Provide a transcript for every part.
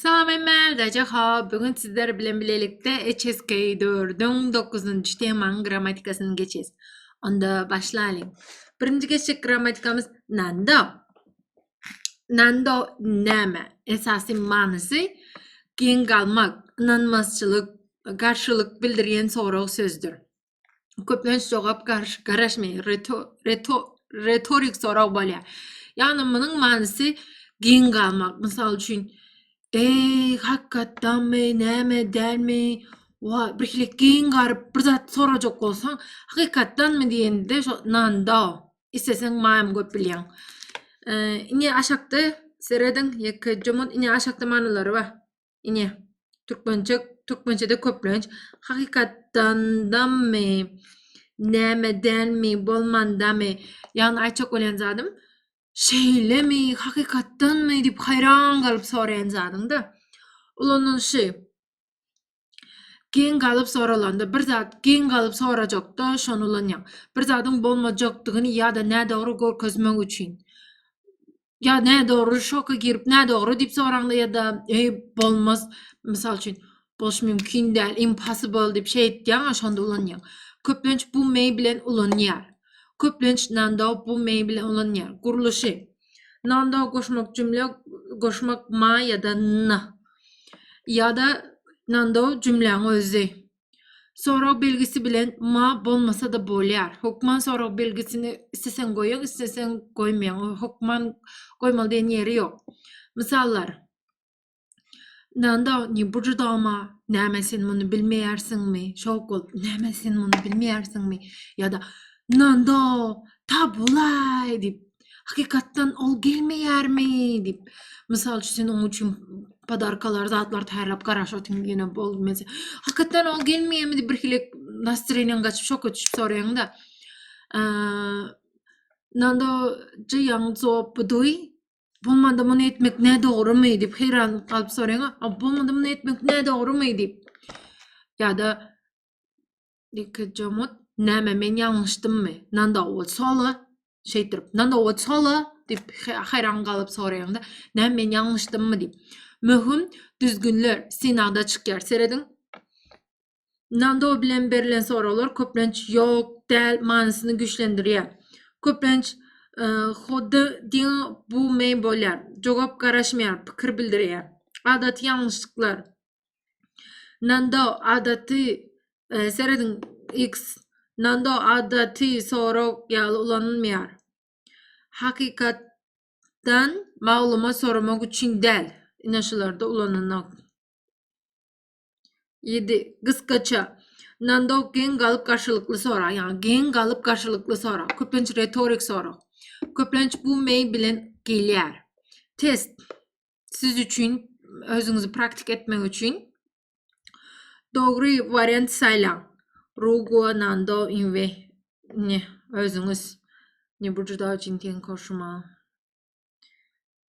Salam emel daja ha bugün sizler bilen bilelikde HSK 4-üň 9-njy temanyň grammatikasyny geçes. Onda başlalyň. Birinji geçjek grammatikamyz nando. Nando näme? Esasy manysy geň galmak, ynanmazçylyk, garşylyk bildirýän sorag sözdür. köplenç jogap garaşmaýar, retorik sorag bolýar. Ýagny munuň manysy giň galmak. Mysal üçin, Eý, hakykatdanmy, näme, dälmi? Wa, birhili giň garyp bir zat sorajak bolsaň, hakykatdanmy diýende, şo nanda, isteseň maýam köp bilýäň. Indi aşakda serediň, ýeke jomut, indi aşakda manylary bar. Ine, türkmençe, türkmençede köplenç hakykatdandamy, nämedenmi, bolmandamy, ýagny aýtjak bolýan zadym, şeýlemi, hakykatdanmy diýip haýran galyp soraýan zadyňda ulanylyşy geň galyp soralanda bir zat geň galyp sorajakda şony ulanýaň. Bir zadyň bolmajakdygyny ýa-da nädogry görkezmek üçin. ýa nädogry şoka girip nädogry diýip soraňda ýa-da eý bolmaz mysal üçin boluş mümkin däl impossible diýip şey etýäň şonda ulanýaň köplenç bu may bilen ulanýar köplenç nando bu may bilen ulanýar gurluşy nando goşmak jümle goşmak ma ýa-da na ýa-da nando jümläň özi Sorag belgisi bilen ma bolmasa-da bolýar. Hökman sorag belgisini isleseň goýaň, isleseň goýmaýaň. O hökman goýmaly diýen ýeri ýok. Mysallar. Nanda, ne bu judama? Näme sen muny bilmeýärsiňmi? Şok bolup, näme sen muny bilmeýärsiňmi? Ýa-da Nanda, ta bulaý diýip, Hakykatdan ol gelmeýärmi diýip, mysal üçin sen onuň üçin podarkalar, zatlar taýýarlap garaşatyň ýene bolmaz. Hakykatdan ol gelmeýärmi diýip bir hili nastroýeniň gaçyp şoka düşüp soraýaňda. Nando jaýaň jogap bu duý. Bolmanda muny etmek ne dogrumy diýip heýran galyp soraýaň. Bolmanda muny etmek ne dogrumy diýip. Ýa-da Dikejamut, näme men ýalňyşdymmy? Nanowat sola, şeýtirip, nanowat sola diýip haýran galyp soraýanda, näme men ýalňyşdymmy diýip. Möhüm düzgünler synagda çykýar. Serediň. Nando bilen berlen soraglar köplenç ýok, däl manysyny güýçlendirýär. Köplenç Hody din bu men bolýar. Jogap garaşmaýar, pikir bildirýär. Adaty ýalňyşlyklar. Nando adaty e, serediň X Nando adaty sorag ýaly ulanylmaýar. Hakykatdan maglumat soramak üçin däl. Ine şularda ulananok. 7. Gysgaça. Nando geň galyp garşylykly sorag, ýa geň galyp garşylykly sorag, köplenç retorik sorag. Köplenç bu meý bilen gelýär. Test. siz üçin özüňizi praktik etmek üçin dogry wariant saýlaň. Rugo Nando Inve ne özüňiz ne bu juda üçin ten koşuma.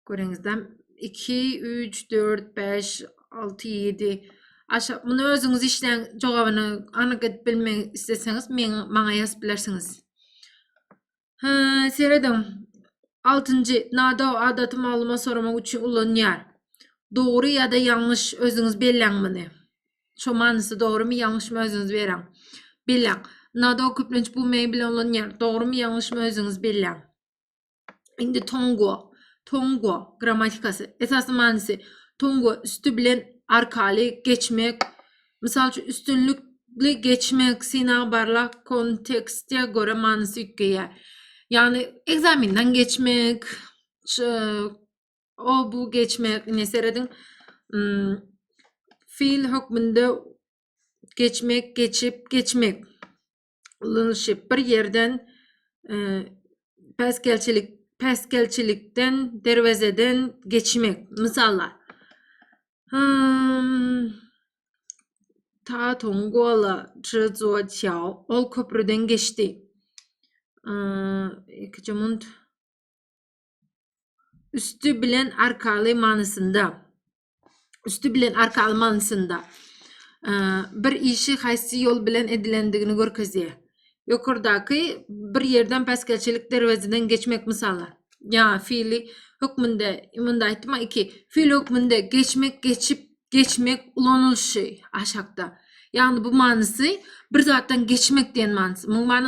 Görüňizden 2 3 4 5 6 7 aşa muny özüňiz işleň jogabyny anyk edip bilmek isleseňiz meň maňa ýazyp bilersiňiz. Serediň, altynjy, Nado adaty maglumat soramak üçin ulanýar. Dogry ýa-da ýalňyş özüňiz belläň muny. Şo manysy dogrymy, ýalňyşmy özüňiz beräň. Belläň. Nado köplenç bu many bilen ulanýar. Dogrymy, ýalňyşmy özüňiz belläň. Indi tongo, tongo grammatikasy. Esasy manysy tongo üsti bilen arkaly geçmek Mysal üçin, üstünlikli geçmek synagy barlag kontekste görä manysy üýtgeýär. Ýagny ekzamenden geçmek, o bu geçmek, ine serediň, feýl hökmünde geçmek, geçip, geçmek. ulanyşyp, bir ýerden päsgelçilik päsgelçilikden derwezeden geçmek. Mysala, hmm, ta tong gola zhuo qiao, ol köprüden geçdi. Ikinci mund üstü bilen arkaly manysynda. üsti bilen arka almanysynda bir işi haýsy ýol bilen edilendigini görkezýär. Ýokardaky bir ýerden päsgelçilik derwezeden geçmek mysaly. Ýa fiili hökmünde, munda aýtma 2. Fiil hökmünde geçmek, geçip, geçmek ulanylyşy aşakda. Ýagny bu manysy bir zatdan geçmek diýen manysy. Muň many